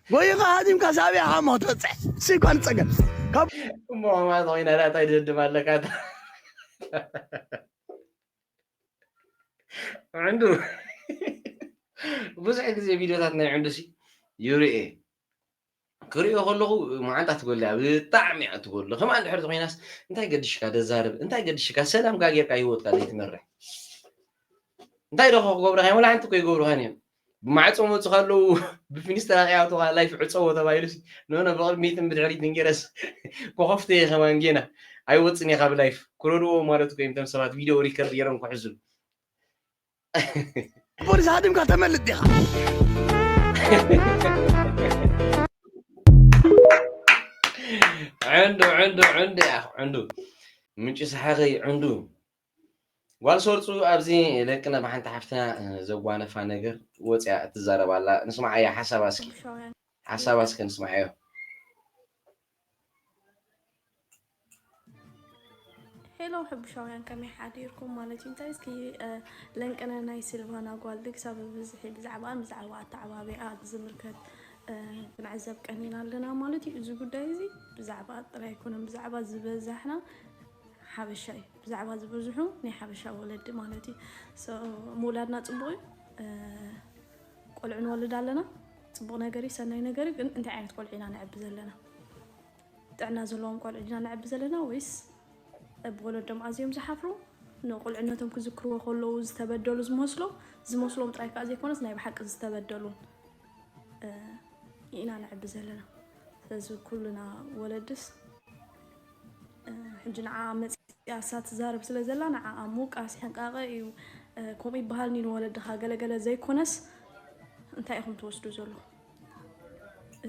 [SPEAKER 10] ጎይኻ ሃዲምካ ሳብያ ሃሞ ትበጽሕ እሱይ እኳ ንጸገም ካብ እሞ
[SPEAKER 1] ኣማት ኮይና ዳኣ ታይ ድድም ኣለካ እታ ዕንዱ ብዙሕ ግዜ ቪድዮታት ናይ ዕንዱ ሲ ይርኤ ክሪኦ ከለኹ መዓንጣ ትጎል እያ ብጣዕሚ እያ ትጎል ከምኣ እንድሕር ኮይናስ እንታይ ገድሽካ ደዛርብ እንታይ ገድሽካ ሰላም ጋጌርካ ሂወትካ ዘይትመርሕ እንታይ ዶ ክገብሩካ እዮም ወላ ሓንቲ እኮ ይገብሩኻን እዮም ብማዕጾ ክመጹ ከለዉ ብፊኒስትራ ከይኣትዋ ላይፍ ዕጸዎ ተባሂሉሲ ኖኖ ብቕድሚትን ብድሕሪትን ጌረስ ኮኾፍተየ ከማን ጌና ኣይወጽን እየ ካብ ላይፍ ክረድኡዎ ማለት እኮ እዮም እቶም ሰባት ቪድዮ ሪከርድ ጌሮም ክሕዙ
[SPEAKER 10] ፖሊስ ሃዲምካ ተመልጥ ዲኻ
[SPEAKER 1] ዕንዱ ዕንዱ ዕንዱ ዕንዱ ምንጪ ሰሓኸይ ዕንዱ ጓል ሰርፁ ኣብዚ ለቅነ ብሓንቲ ሓፍትና ዘጓነፋ ነገር ወፅያ እትዛረብ ኣላ ንስምዓያ ሓሳባ እስኪ ኩርሻውያን ሓሳባ እስኪ ክልተ ንስምዓዮ
[SPEAKER 11] ሄሎ ሕቡሻውያን ከመይ ሓዲርኩም ማለት እዩ እንታይ እስኪ እ፣ ለንቅነ ናይ ሲልቫና ጓል ክሳብ ብዝሒ ብዛዕባኣን ብዛዕባ ኣተዓባቢኣ ዝምልከት እ፣ ክንዕዘብ ቀኒና ኣለና ማለት እዩ እዚ ጉዳይ እዚ ብዛዕባ ጥራይ ኣይኮነን ብዛዕባ ዝበዛሕና ሓበሻ እዩ ብዛዕባ ዝበዝሑ ናይ ሓበሻ ወለዲ ማለት እዩ So፣ ምውላድና ፅቡቅ እዩ ቆልዑ ንወልድ ኣለና ፅቡቅ ነገር እዩ ሰናይ ነገር እዩ ግን እንታይ ዓይነት ቆልዑ ኢና ነዕቢ ዘለና ጥዕና ዘለዎም ቆልዑ ኢና ነዕቢ ዘለና ወይስ ብወለዶም ኣዝዮም ዝሓፍሩ ንቁልዕነቶም ክዝክርዎ ከለዉ ዝተበደሉ ዝመስሎም ዝመስሎም ጥራይ ከዓ ዘይኮነስ ናይ ብሓቂ ዝተበደሉን እ፣ ኢና ነዕቢ ዘለና ስለዚ ኩልና ወለድስ ሕጂ ንዓኣ መጺኣ እሳ ትዛረብ ስለ ዘላ ንዓኣ ምውቃስ ሕንቃቀ እዩ ከምኡ ይበሃል ኒን ወለድኻ ገለ ገለ ዘይኮነስ እንታይ ኢኹም ትወስዱ ዘሎ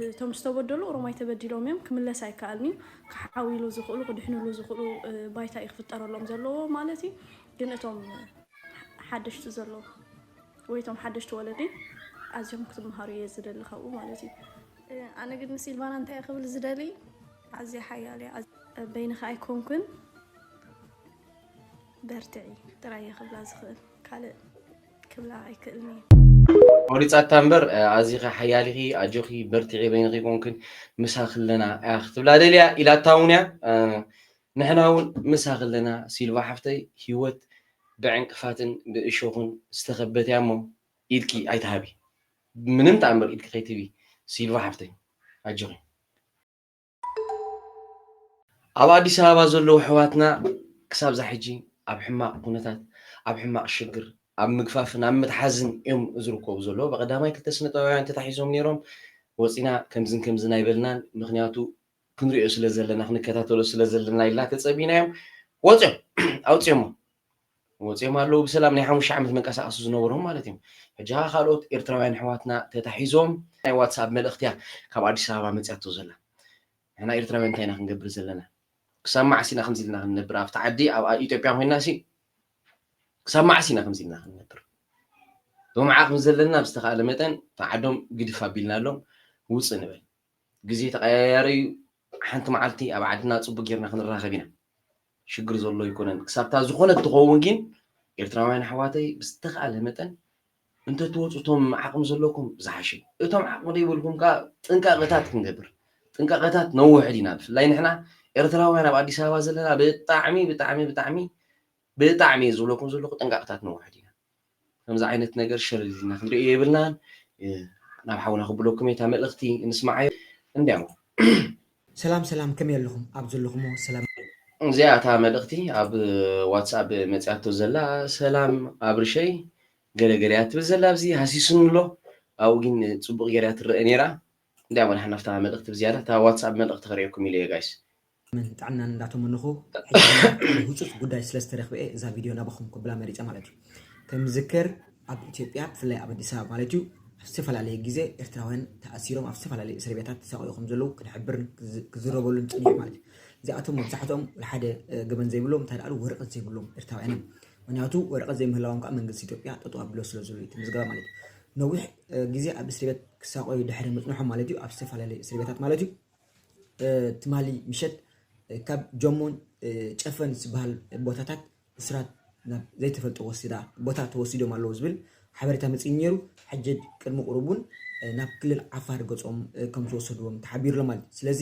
[SPEAKER 11] እቶም ዝተበደሉ ኦሮማይ ተበዲሎም እዮም ክምለስ ኣይከኣልንዩ ክሓዊሉ ዝኽእሉ ክድሕንሉ ዝኽእሉ ባይታ እዩ ክፍጠረሎም ዘለዎ ማለት እዩ ግን እቶም ሓደሽቲ ዘለዎ ወይ እቶም ሓደሽቲ ወለዲ ኣዝዮም ክትምሃሩ እየ ዝደሊ ካብኡ ማለት እዩ ኣነ ግን ንሲልቫና እንታይ ክብል ዝደሊ ኣዝያ ሓያል እያ በይንኺ ኣይኮንኩን በርትዒ ጥራይ እየ ክብላ ዝኽእል ካልእ ክብላ
[SPEAKER 1] ኣይክእልን እየ። ቆሪፃታ እምበር ኣዚኺ ሓያል ኢኺ ኣጆኺ በርትዒ በይንኺ ኣይኮንክን ምሳኺ ኣለና እያ ክትብላ ደልያ ኢላታ እውን እያ ንሕና እውን ምሳኺ ኣለና ሲልቫ ሓፍተይ ሂወት ብዕንቅፋትን ብእሾኽን ዝተኸበት እያ እሞ ኢድኪ ኣይትሃቢ ምንም ተኣምር ኢድኪ ከይትህቢ ሲልቫ ሓፍተይ ኣጆኺ ኣብ ኣዲስ ኣበባ ዘለዉ ኣሕዋትና ክሳብ ዛሕጂ ኣብ ሕማቕ ኩነታት፣ ኣብ ሕማቕ ሽግር፣ ኣብ ምግፋፍን ኣብ ምትሓዝን እዮም ዝርከቡ ዘለዉ። ብቐዳማይ ክልተ ስነጥበባውያን ተታሒዞም ነይሮም። ወጺና ከምዝን ከምዝን ኣይበልናን፣ ምኽንያቱ ክንሪኦ ስለዘለና ክንከታተሎ ስለዘለና ኢልና ተጸቢናዮም ወጺኦም ኣውጺኦሞም። ወጺኦም ኣለዉ ብሰላም ናይ ሓሙሽተ ዓመት መንቀሳቀሲ ዝነበሮም ማለት እዮም ሕጂ ከኣ ካልኦት ኤርትራውያን ኣሕዋትና ተታሒዞም። ናይ ዋትስኣብ መልእኽቲ እያ ካብ ኣዲስ ኣበባ መጺኣቶ ዘላ ንሕና ኤርትራውያን እንታይ ኢና ክንገብር ዘለና ክሳብ መዓስ ኢና ከምዚ ኢልና ክንነብር ኣብቲ ዓዲ ኣብ ኢትዮጵያ ኮይና ሲ ክሳብ መዓስ ኢና ከምዚ ኢልና ክንነብር ብመዓቕ ምስ ዘለና ኣብ ዝተኻእለ መጠን ተዓዶም ግድፍ ኣቢልናሎም ውፅእ ንበል ግዜ ተቀያያሪ እዩ ሓንቲ መዓልቲ ኣብ ዓድና ፅቡቅ ጌርና ክንራኸብ ኢና ሽግር ዘሎ ኣይኮነን ክሳብታ ዝኾነት ትኸውን ጊን ኤርትራውያን ኣሕዋተይ ብዝተኻእለ መጠን እንተትወጹ እቶም ዓቕሚ ዘለኩም ዝሓሸ ዩ እቶም ዓቕሚ ዘይብልኩም ከኣ ጥንቃቐታት ክንገብር ጥንቃቐታት ነውሕድ ኢና ብፍላይ ንሕና ኤርትራውያን ኣብ ኣዲስ ኣበባ ዘለና ብጣዕሚ ብጣዕሚ ብጣዕሚ ብጣዕሚ ዝብለኩም ዘለኹ ጥንቃቐታት ነውሕድ ኢና ከምዚ ዓይነት ነገር ሸር ኢልና ክንሪኦ የብልናን ናብ ሓውና ክብለኩም እየ እታ መልእክቲ ንስማዓዮ እንድያው።
[SPEAKER 12] ሰላም ሰላም ከመይ ኣለኹም ኣብ ዘለኹሞ ሰላም። እዚኣ እታ
[SPEAKER 1] መልእኽቲ ኣብ ዋትስኣፕ መጺኣቶ ዘላ ሰላም ኣብርሸይ ገለ ገለ እያ ትብል ዘላ ኣብዚ ሃሲሱኒ ኣሎ ኣብኡ ግን ጽቡቕ ጌራ ትረአ ኔራ እንዳ ወላሓ ናፍታ መልእኽቲ ብዝያዳ እታ ዋትስኣፕ መልእኽቲ ክርእየኩም ኢለ እየ ጋይስ ዕድመን ጥዕናን
[SPEAKER 12] እንዳተመነኹ ሕጂ ድማ ሓደ ሁጹጽ ጉዳይ ስለ ዝተረኽበ'የ እዛ ቪድዮ ናባኹም ከብላ መሪጸ ማለት እዩ ከም ዝዝከር ኣብ ኢትዮጵያ ብፍላይ ኣብ ኣዲስ ኣበባ ማለት እዩ ኣብ ዝተፈላለየ ግዜ ኤርትራውያን ተኣሲሮም ኣብ ዝተፈላለየ እስር ቤታት ተሳቐዩ ከም ዘለዉ ክንሕብርን ክዝረበሉን ጸኒሑ ማለት እዩ እዚኣቶም መብዛሕትኦም ሓደ ገበን ዘይብሎም እንታይ ደኣሉ ወረቐት ዘይብሎም ኤርትራውያን እዮም ምክንያቱ ወረቐት ዘይምህላዎም ከዓ መንግስቲ ኢትዮጵያ ጠጠው ኣቢሎ ስለ ዘሎ እቲ ምዝገባ ማለት እዩ ነዊሕ ግዜ ኣብ እስር ቤት ክሳቐዩ ድሕሪ ምጽንሖም ማለት እዩ ኣብ ዝተፈላለየ እስር ቤታት ማለት እዩ ትማሊ ምሸት ካብ ጀሞን ጨፈን ዝበሃል ቦታታት እስራት ናብ ዘይተፈልጠ ወሲዳ ቦታ ተወሲዶም ኣለዉ ዝብል ሓበሬታ መፅዩ ነይሩ። ሕጂ ቅድሚ ቁሩብ እውን ናብ ክልል ዓፋር ገፆም ከም ዝወሰድዎም ተሓቢሩ ኣሎ ማለት እዩ። ስለዚ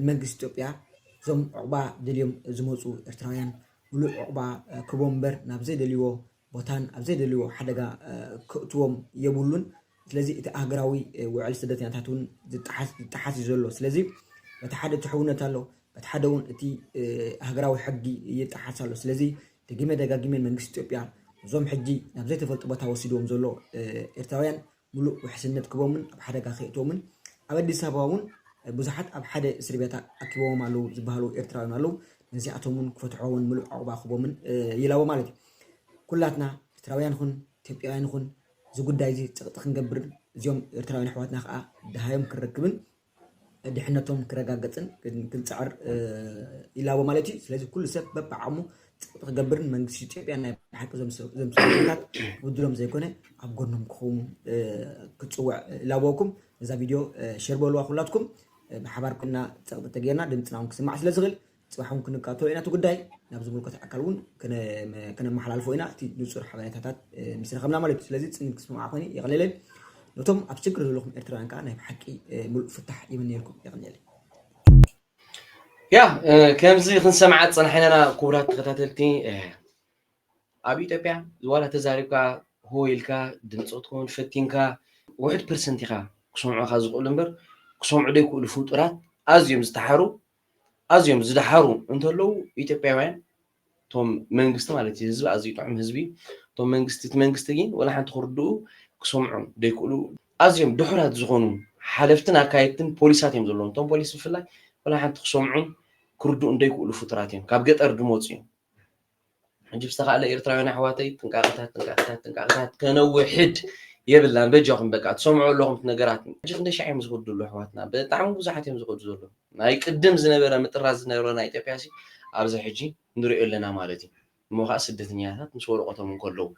[SPEAKER 12] ንመንግስቲ ኢትዮጵያ እዞም ዑቕባ ደልዮም ዝመፁ ኤርትራውያን ምሉእ ዑቕባ ክህቦም እምበር ናብ ዘይደልይዎ ቦታን ኣብ ዘይደልይዎ ሓደጋ ከእትዎም የብሉን። ስለዚ እቲ ኣህገራዊ ውዕል ስደተኛታት እውን ዝጠሓስ ዝጠሓስ እዩ ዘሎ። ስለዚ በቲ ሓደ እቲ ሕውነት ኣሎ፣ በቲ ሓደ እውን እቲ ኣህገራዊ ሕጊ ይጠሓስ ኣሎ። ስለዚ ደጊመ ደጋጊመ መንግስቲ ኢትዮጵያ እዞም ሕጂ ናብ ዘይተፈልጡ ቦታ ወሲድዎም ዘሎ ኤርትራውያን ምሉእ ውሕስነት ክህቦምን ኣብ ሓደጋ ከየእትዎምን ኣብ ኣዲስ ኣበባ እውን ብዙሓት ኣብ ሓደ እስርቤት ኣኪቦዎም ኣለዉ ዝበሃሉ ኤርትራውያን ኣለዉ ነዚኣቶም እውን ክፈትሖዎን ምሉእ ዑቕባ ክህቦምን ይላቦ ማለት እዩ ኩላትና ኤርትራውያን ኹን ኢትዮጵያውያን ኹን እዚ ጉዳይ እዚ ጸቕጢ ክንገብርን እዚኦም ኤርትራውያን ኣሕዋትና ከዓ ድሃዮም ክንረክብን ድሕነቶም ክረጋገፅን ክንፅዕር ይላቦ ማለት እዩ። ስለዚ ኩሉ ሰብ በብዓቕሙ ፅቕጥ ክገብርን መንግስቲ ኢትዮጵያ ናይ ብሓቂ እዞም ሰበስልጣናት ክብድሎም ዘይኮነ ኣብ ጎኖም ክኸውን ክፅውዕ ይላበወኩም። እዛ ቪድዮ ሼር በልዋ ኩላትኩም ብሓባር ኮይና ፀቕጢ ተገይርና ድምፅና እውን ክስማዕ ስለዝኽእል ፅባሕ እውን ክንካተሎ ኢና እቲ ጉዳይ ናብ ዝምልከቶ ኣካል እውን ከነመሓላልፎ ኢና እቲ ንፁር ሓበሬታታት ምስ ረኸብና ማለት እዩ ስለዚ ፅን ክስምዓ ኮይኑ የቕልለይ ነቶም ኣብ ችግር ዘለኹም ኤርትራውያን ከዓ ናይ ብሓቂ ምሉእ ፍታሕ ይምንየልኩም የቕልለይ
[SPEAKER 1] ያ ከምዚ ክንሰምዓ ዝፀናሕናና ክቡራት ተኸታተልቲ ኣብ ኢትዮጵያ ዋላ ተዛሪብካ ሆ ኢልካ ድምፂ ክትከውን ፈቲንካ ውሕድ ፐርሰንት ኢኻ ክሰምዑኻ ዝኽእሉ እምበር ክሰምዑ ዘይክእሉ ፍጡራት ኣዝዮም ዝተሓሩ ኣዝዮም ዝደሓሩ እንተለዉ ኢትዮጵያውያን እቶም መንግስቲ ማለት እዩ ህዝቢ ኣዝዩ ጥዑም ህዝቢ እቶም መንግስቲ እቲ መንግስቲ ግን ወላ ሓንቲ ክርድኡ ክሰምዑ ዘይክእሉ ኣዝዮም ድሑራት ዝኾኑ ሓለፍትን ኣካየድትን ፖሊሳት እዮም ዘለዎም እቶም ፖሊስ ብፍላይ ወላ ሓንቲ ክሰምዑን ክርድኡን ዘይክእሉ ፍጡራት እዮም ካብ ገጠር ዝመፁ እዮም ሕጂ ዝተኻእለ ኤርትራውያን ኣሕዋተይ ጥንቃቐታት ጥንቃቐታት ጥንቃቐታት ከነውሕድ የብልናን በጃኹም በቃ ትሰምዑ ኣለኹም እቲ ነገራት ሕጂ ክንደይ ሻዕ እዮም ዝኸዱ ዘለዉ ኣሕዋትና ብጣዕሚ ብዙሓት እዮም ዝኸዱ ዘለዉ ናይ ቅድም ዝነበረ ምጥራዝ ዝነበረ ናይ ኢትዮጵያ ሲ ኣብዚ ሕጂ ንሪኦ ኣለና ማለት እዩ እሞ ከዓ ስደተኛታት ምስ ወረቐቶም እንከለዉ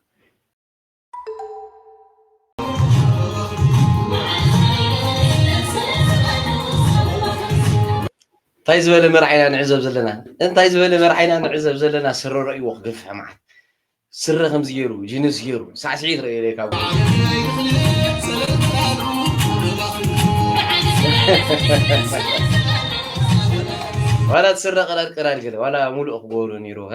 [SPEAKER 1] እንታይ ዝበለ መርዓ ኢና ንዕዘብ ዘለና እንታይ ዝበለ መርዓ ኢና ንዕዘብ ዘለና ስረ ረእይዎ ክገፍሕ መዓት ስረ ከምዚ ገይሩ ጅንስ ገይሩ ሳዕስዒት ረእየ ካብ ዋላ ስረ ቅራር ቅራር ገለ ዋላ ሙሉእ ክገብሩ ነይሩ ከ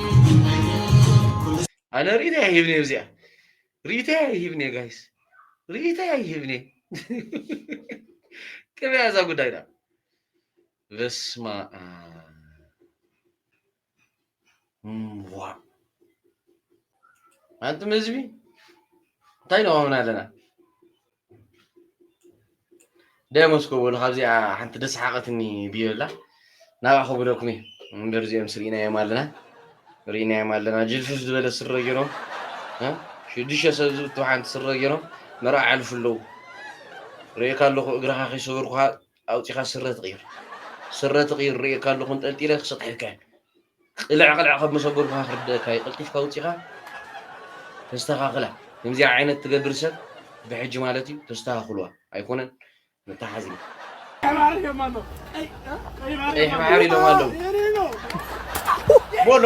[SPEAKER 1] ኣነ ሪኢቶ ኣይህብን እየ እዚኣ ሪኢቶ ኣይህብን እየ ጋይስ ሪኢቶ ኣይህብን እየ ቅበያ እዛ ጉዳይ ዳ በስማ ዋ ኣንቱም ህዝቢ እንታይ ነዋምና ኣለና ደሞስኮ በሉ ካብዚኣ ሓንቲ ደስሓቐትኒ ብዮ ኣላ ናብኣ ከብደኩም እዩ እምበር እዚኦም ስርኢናዮም ኣለና ርኢናዮም ኣለና ጅልፍፍ ዝበለ ስረ ገይሮም ሽዱሽተ ሰብ ዝብቱ ሓንቲ ስረ ገይሮም መርዓ ኣሕልፉ ኣለዉ ርእካ ኣለኹ እግርኻ ከይሰበርኩኻ ኣውፂኻ ስረ ትቕይር ስረ ትቕይር ርእካ ኣለኹ እንጠልጢለ ክሰጥሐካ እዩ ቅልዕ ቅልዕ ከብ መሰጎርካ ክርደእካ እዩ ቀልጢፍካ ኣውጺኻ ተስተኻኽላ ከምዚኣ ዓይነት ትገብር ሰብ ብሕጂ ማለት እዩ ተስተኻኽሉዋ ኣይኮነን መታሓዚ እዩ ቀይሕ ባሕሪ ኢሎም ኣለዉ ቦሎ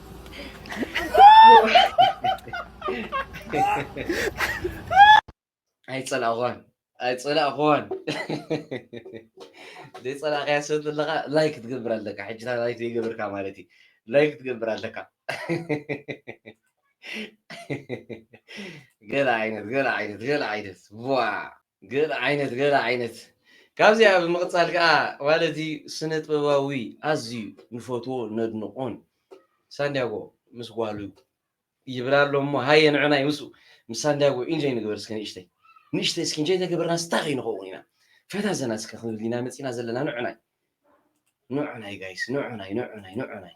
[SPEAKER 1] ኣይጸላእኹዋን ኣይጸላእኹዋን ዘይጸላእካያ ሰብ ዘለካ ላይክ ትገብር ኣለካ ሕጂ ላይክ ዘይገብርካ ማለት እዩ ላይክ ትገብር ኣለካ ገለ ዓይነት ገለ ዓይነት ገለ ዓይነት ዋ ገለ ዓይነት ገለ ዓይነት ካብዚኣ ብምቕጻል ከኣ ማለት'ዩ ስነጥበባዊ ኣዝዩ ንፈትዎ ነድንቖን ሳንድያጎ ምስ ጓሉ ይብል ኣሎ እሞ ሃየ ንዕናይ ምስኡ ምስ ሳንድያጎ ኢንጆይ ንግበር እስከ ንእሽተይ ንእሽተይ እስኪ ኢንጆይ ተገበርናስ እንታይ ከይንኸውን ኢና ፈታ ዘና እስከ ክንብል ኢና መጺእና ዘለና ንዕናይ ንዕናይ ጋይስ ንዕናይ ንዕናይ ንዕናይ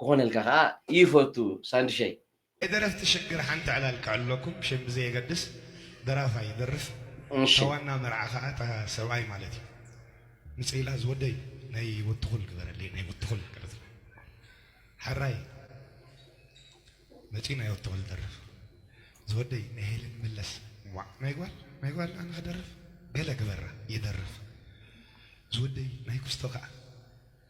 [SPEAKER 1] ክኾነልካ ከኣ ይፈቱ ሳንድሸይ። ናይ ደረፍቲ ሽግር
[SPEAKER 13] ሓንቲ ዕላል ክዕለኩም ሽም ብዘየገድስ ደራፋይ ይደርፍ እታ እሺ። ዋና መርዓ ከኣ እታ ሰብኣይ ማለት እዩ ምጽኢላ ዝወደይ ናይ ወትኹል ግበረለይ ናይ ወትኹል ቀለት ሐራይ መጺኡ ናይ ወትኹል ደርፍ ዝወደይ ናይ ሄለን መለስ ዋእ ናይ ጓል ናይ ጓል ኣነ ክደርፍ ገለ ግበራ ይደርፍ ዝወደይ ናይ ኩስቶ ከኣ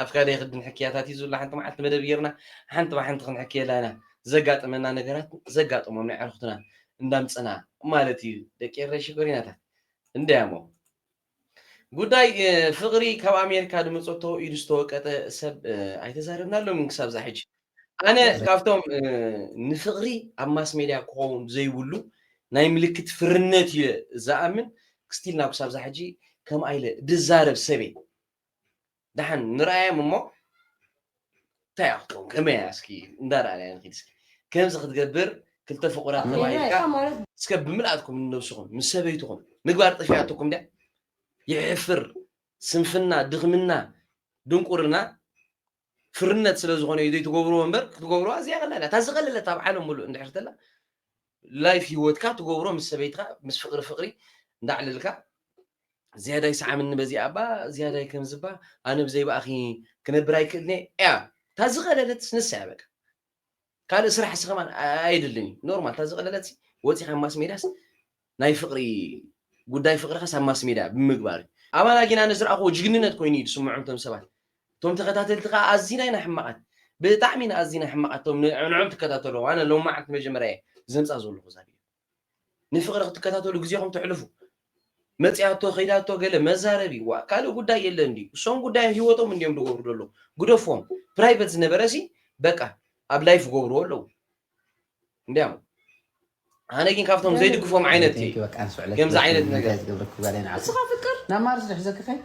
[SPEAKER 1] ኣብ ካልእ ክዲ ንሕክያታት እዩ ዝብላ ሓንቲ መዓልቲ መደብ ጌርና ሓንቲ ብሓንቲ ክንሕክየላ ኢና ዘጋጠመና ነገራት ዘጋጠሞም ናይ ኣዕርኽትና እንዳምጸና ማለት እዩ ደቂ ኤረይ ሽኮሪናታት እንድያሞ ጉዳይ ፍቕሪ ካብ ኣሜሪካ ድመጸቶ ኢዱ ዝተወቀጠ ሰብ ኣይተዛረብናሎምን ክሳብ ዛሕጂ ኣነ ካብቶም ንፍቕሪ ኣብ ማስ ሜድያ ክኸውን ዘይብሉ ናይ ምልክት ፍርነት እዩ ዝኣምን ክስቲል ናብ ክሳብ ዛ ሕጂ ከም ኣይለ ድዛረብ ሰበ ደሓን ንርኣዮም እሞ እንታይ ክትከውን ከመይ እያ እስኪ እንዳረኣናያ ንኽድ እስኪ ከምዚ ክትገብር ክልተ ፍቑራት ተባሂልካ እስከ ብምልኣትኩም ንነብስኹም ምስ ሰበይትኹም ምግባር ጠፊኣትኩም ድያ ይሕፍር ስንፍና ድኽምና ድንቁርና ፍርነት ስለ ዝኾነ እዩ ዘይትገብርዎ እምበር ክትገብርዎ ኣዝያ ቀላል እያ እታ ዝቐለለት ኣብ ዓለም ምሉእ እንድሕር ተላ ላይፍ ሂወትካ ትገብሮ ምስ ሰበይትካ ምስ ፍቕሪ ፍቕሪ እንዳዕለልካ ዝያዳይ ሰዓምኒ በዚኣ እባ ዝያዳይ ከምዚ እባ ኣነ ብዘይባእኺ ክነብር ኣይክእልንየ እያ እታ ዝቐለለት ንሳ እያ በቃ ካልእ ስራሕ ሲ ከማን ኣየድልን እዩ ኖርማል እታ ዝቀለለት ሲ ወጺካ ኣብ ማስሜድያስ ናይ ፍቅሪ ጉዳይ ፍቅርካስ ኣብ ማስሜድያ ብምግባር እዩ ኣባና ጊን ኣነ ዝረኣክዎ ጅግንነት ኮይኑ እዩ ዝስምዖም እቶም ሰባት እቶም ተከታተልቲ ከኣ ኣዚና ኢና ሕማቃት ብጣዕሚ ኢና ኣዚና ሕማቃት እቶም ንዕዖም ትከታተልዎም ኣነ ሎሚ መዓልቲ መጀመርያ እየ ዘምጻ ዘለኩ እዛ ቪድዮ ንፍቅሪ ክትከታተሉ ግዜኹም ተሕልፉ መጺኣቶ ከይዳቶ ገለ መዛረቢ ዋ ካልእ ጉዳይ የለን ድዩ እሶም ጉዳዮም ሂወቶም እንዲዮም ዝገብሩ ዘለዉ ግደፎም ፕራይቨት ዝነበረሲ በቃ ኣብ ላይፍ ይገብርዎ ኣለዉ እንዲያም ኣነ ግን ካብቶም ዘይድግፎም ዓይነት ከምዚ ዓይነት ነገር ንስኻ ፍቅር ናብ ማርስ
[SPEAKER 6] ዝሕዘኪ
[SPEAKER 5] ከይት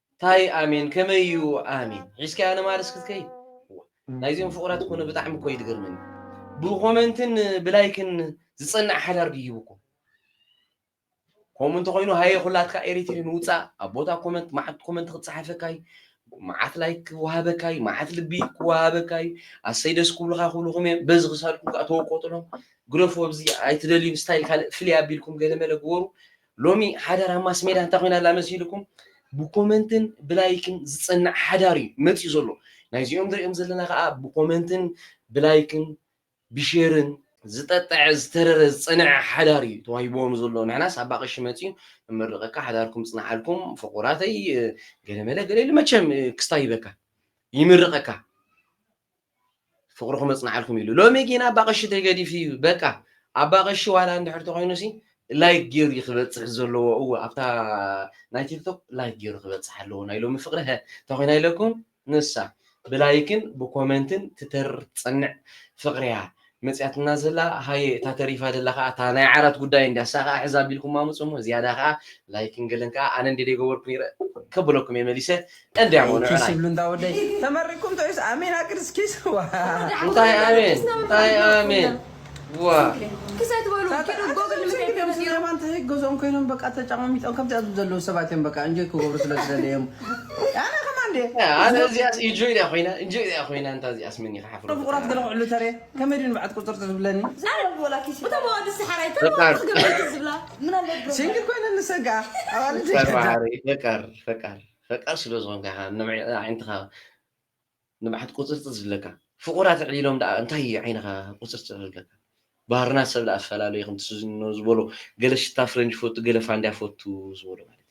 [SPEAKER 1] ታይ ኣሜን ከመይ እዩ ኣሜን ሒዝካያ ንማርስ ክትከይድ ዋእ ናይዚኦም ፍቁራት ኮነ ብጣዕሚ እኮ እዩ ዝገርመኒ ብኮመንትን ብላይክን ዝጸንዕ ሓዳር ድዩ ሂቡኩም ከምኡ እንተኮይኑ ሃየ ኩላትካ ኤሪትሪ ንውጻእ ኣብ ቦታ ኮመንት መዓት ኮመንት ክጸሓፈካ እዩ መዓት ላይክ ክወሃበካ እዩ መዓት ልቢ ክወሃበካ እዩ ኣሰይ ደስ ክብሉካ ክብልኩም እዮም በዚ ክሳድኩም ከዓ ተወቀጡሎም ግረፉ ኣብዚ ኣይትደልዩም ስታይል ካልእ ፍልይ ኣቢልኩም ገለ መለ ግበሩ ሎሚ ሓዳራ ማስሜዳ እንታይ ኮይና ኣላ መሲልኩም ብኮመንትን ብላይክን ዝጽናዕ ሓዳር እዩ መጺኡ ዘሎ ናይዚኦም ንርእዮም ዘለና ከኣ ብኮመንትን ብላይክን ብሼርን ዝጠጠዐ ዝተረረ ዝጸነዐ ሓዳር እዩ ተዋሂብዎም ዘሎ ንሕናስ ኣባ ቀሺ መጺኡ ንመርቀካ ሓዳርኩም ይጽናሓልኩም ፍቁራተይ ገለመለ ገለ ኢሉ መቸም ክስታይ ሂበካ ይምርቀካ። ፍቅርኩም የጽንዓልኩም ኢሉ ሎሚ ጊን ኣባ ቀሺ ተገዲፉ እዩ በቃ ኣባ ቀሺ ዋላ እንድሕር ተኮይኑ ሲ ላይክ ጌሩ ክበጽሕ ዘለዎ እወ ኣብታ ናይ ቲክቶክ ላይክ ጌሩ ክበጽሕ ኣለዎ ናይ ሎሚ ፍቅሪ ሀ ተኮይና ኢለኩም ንሳ ብላይክን ብኮመንትን ትተርር ትጸንዕ ፍቅርያ መጺኣትና ዘላ ሃየ እታ ተሪፋ ዘላ ከኣ እታ ናይ ዓራት ጉዳይ እንድያ እሳ ከኣ ሕዛ ኣቢልኩም ኣምጹ እሞ ዝያዳ ከኣ ላይክን ገለን ከኣ ኣነ እንድየ ዘይገበርኩ ነይረ ከብለኩም እየ መሊሰ እንድያ እሞ ንዑ ናይ እንዳ ወደይ
[SPEAKER 5] ተመሪኩም ዶ ወይስ ኣሜን ኣግድ እስኪ ዋእ። እንታይ
[SPEAKER 1] ኣሜን እንታይ ኣሜን
[SPEAKER 7] ዋእ።
[SPEAKER 5] ገዝኦም ኮይኖም በቃ ተጫማሚጦም ከምዚኣ ዝብሉ ዘለዉ ሰባት እዮም በቃ እንጆይ ክገብሩ ስለ ዝደለዩ እዮም ኣነ ከማን ድየ ኣነ እዚኣስ ኢንጆይ
[SPEAKER 1] ድያ ኮይና ኢንጆይ ድያ ኮይና እንታ እዚኣስ መን ይኸሓ
[SPEAKER 5] ፍቁራት
[SPEAKER 7] ገለ ክዕሉ ተሬ ከመይ ድዩ ንብዓት ቁፅርፅ ዝብለኒ እቶም ኣዋልድ ሰሓራይ
[SPEAKER 5] ተለዋወጥ ገበይቲ ዝብላ ሲንግል ኮይነ ንሰግኣ ኣዋልድ
[SPEAKER 1] ፈቃር ፈቃር ፈቃር ፈቃር ስለ ዝኾንካ ኢኻ ንዓይንትኻ ንብዓት ቁፅርፅ ዝብለካ ፍቁራት ዕሊሎም ደኣ እንታይ እዩ ዓይንኻ ቁፅርፅ ዝብለካ ባህርና ሰብ ደኣ ኣፈላለዩ ከምቲ ዝበሎ ገለ ሽታ ፍረንጅ ፈቱ ገለ ፋንድያ ፈቱ ዝበሎ ማለት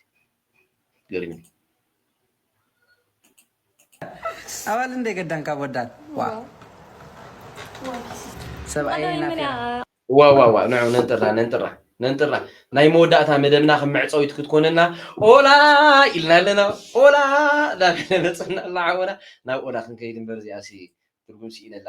[SPEAKER 1] ገሪሙ ኣባል
[SPEAKER 5] እንደ ገዳን ካብ ወዳን ዋ ሰብኣየ ናፊራ ዋ
[SPEAKER 1] ዋ ዋ ንዑ ነንጥራ ነንጥራ ነንጥራ ናይ መወዳእታ መደብና ከም መዕፀዊት ክትኮነና ኦላ ኢልና ኣለና ኦላ ዳበለ መፅና ኣላ ዓወና ናብ ኦላ ክንከይድ እምበር እዚኣሲ ትርጉም ስኢነላ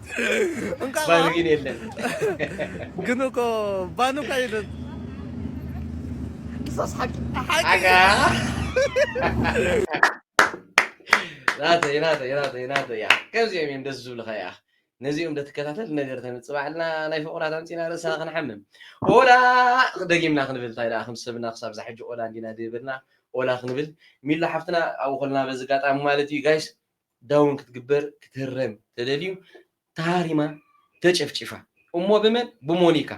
[SPEAKER 1] እንኳን ባል ግን የለን ግን
[SPEAKER 14] እኮ ባን እኮ የለን እዛስ
[SPEAKER 1] ሓቂ ሓቂ ሓቂ ናተይ ናተይ ናተይ ናተይ እያ ከምዚኦም እዮም ደስ ዝብልካ እያ ነዚኦም ደትከታተል ነገር ተምፅእ ባዕልና ናይ ፍቑራት ኣምፂና ርእስና ክንሓምም ኦላ ደጊምና ክንብል እንታይ ደኣ ከም ሰብና ክሳብ ዛሕጂ ኦላ እንዲና ድብልና ኦላ ክንብል ሚሎ ሓፍትና ኣብኡ ከለና በዚ ኣጋጣሚ ማለት እዩ ጋይስ ዳውን ክትግበር ክትህረም ተደልዩ ተሃሪማ ተጨፍጪፋ እሞ ብመን ብሞኒካ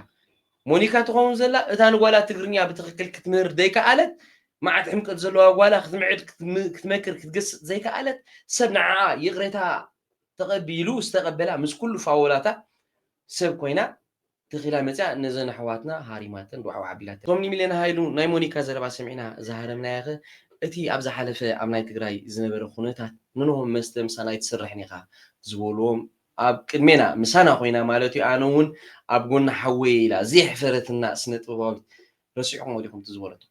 [SPEAKER 1] ሞኒካ ትኸውን ዘላ እታ ንጓላ ትግርኛ ብትኽክል ክትምህር ዘይከኣለት መዓት ሕምቀት ዘለዋ ጓላ ክትምዕድ ክትመክር ክትገስጽ ዘይከኣለት ሰብ ንዓኣ ይቕሬታ ተቐቢሉ ዝተቐበላ ምስ ኩሉ ፋወላታ ሰብ ኮይና ተኺላ መጺኣ ነዘን ኣሕዋትና ሃሪማተን ጓዕጓዕ ኣቢላተን። እቶም ንሚልዮን ሃይሉ ናይ ሞኒካ ዘረባ ሰሚዕና ዝሃረምናዮኸ እቲ ኣብ ዝሓለፈ ኣብ ናይ ትግራይ ዝነበረ ኩነታት ንኖሆም መስተ ምሳና ኣይትስርሕን ኢኻ ዝበሉዎም ኣብ ቅድሜና ምሳና ኮይና ማለትዩ ኣነ ውን ኣብ ጎኒ ሓወይ ኢላ ዘየሕፈረትና ስነጥበባዊት ረሲዕኹሞ ዲኹም እቲ ዝበለቶ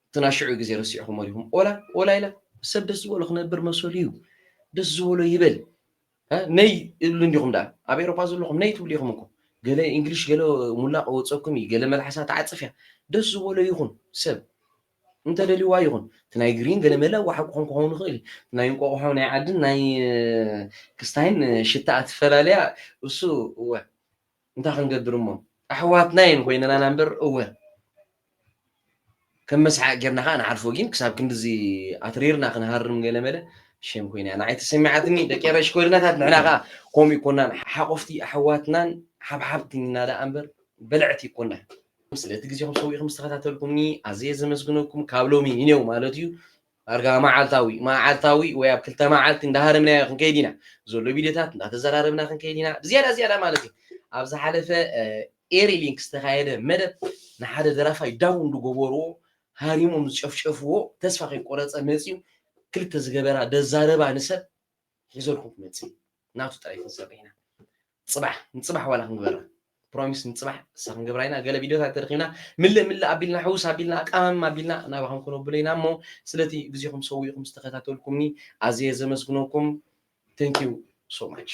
[SPEAKER 1] እቲ ናይ ሽዑ ግዜ ረሲዕኹሞ ዲኹም ኦላ ኦላ ኢላ ሰብ ደስ ዝበሎ ክነብር መሰሉዩ ደስ ዝበሎ ይበል። ነይ እሉ እንዲኹም ደኣ ኣብ ኤሮፓ ዘለኹም ነይ ትብሉ ኢኹም እኮ ገለ እንግሊሽ ገለ ሙላቕ ወጸኩም እዩ ገለ መልሓሳ ትዓጽፍ እያ ደስ ዝበሎ ይኹን ሰብ እንተደልዋ ይኹን እቲ ናይ ግሪን ገለ መለ ዋሓ ክኾን ክኸውን ይኽእል እቲ ናይ እንቆቑሖ ናይ ዓድን ናይ ክስታይን ሽታኣ ትፈላለያ እሱ እወ እንታይ ክንገብር እሞ ኣሕዋትና እየን ኮይነናና እምበር እወ ከም መስሓቅ ጌርና ከዓ ንሓልፎ ግን ክሳብ ክንድዚ ኣትሪርና ክንሃርም ገለመለ ሸም ኮይና ንዓይ ተሰሚዓትኒ ደቂ ኤረይ ሽኮሪናታት ንሕና ከዓ ከምኡ ይኮናን ሓቆፍቲ ኣሕዋትናን ሓብሓብትኛ ደኣ እምበር በለዕቲ ይኮና ስለቲ ግዜኹም ሰዊእኹም ዝተኸታተልኩምኒ ኣዝየ ዘመስግነኩም ካብ ሎሚ ንኔው ማለት እዩ ዳርጋ መዓልታዊ፣ መዓልታዊ ወይ ኣብ ክልተ መዓልቲ እንዳሃረምናዮ ክንከይድ ኢና። ዘሎ ቪድዮታት እንዳተዘራረብና ክንከይድ ኢና። ብዝያዳ ዝያዳ ማለት እዩ። ኣብ ዝሓለፈ ኤሪ ሊንክ ዝተኻየደ መደብ ንሓደ ደራፋይ ዳውን እንድገበርዎ ሃሪሞም ዝጨፍጨፍዎ ተስፋ ከይቆረጸ መጺኡ ክልተ ዝገበራ ደዛረባ ንሰብ ሒዘልኩም ክመጽእ እዩ። ናቱ ጥራይ ክንሰርሕ ኢና። ጽባሕ ንጽባሕ ዋላ ክንግበራ ፕሮሚስ ንጽባሕ እሳ ክንገብራ ኢና ገለ ቪድዮታት ተረኪብና ምልእ ምልእ ኣቢልና ሕውስ ኣቢልና ኣቃማምም ኣቢልና ናባኹም ክነብሎ ኢና እሞ ስለቲ ግዜኹም ሰዊእኹም ዝተኸታተልኩምኒ ኣዝየ ዘመስግነኩም ቴንኪዩ ሶ ማች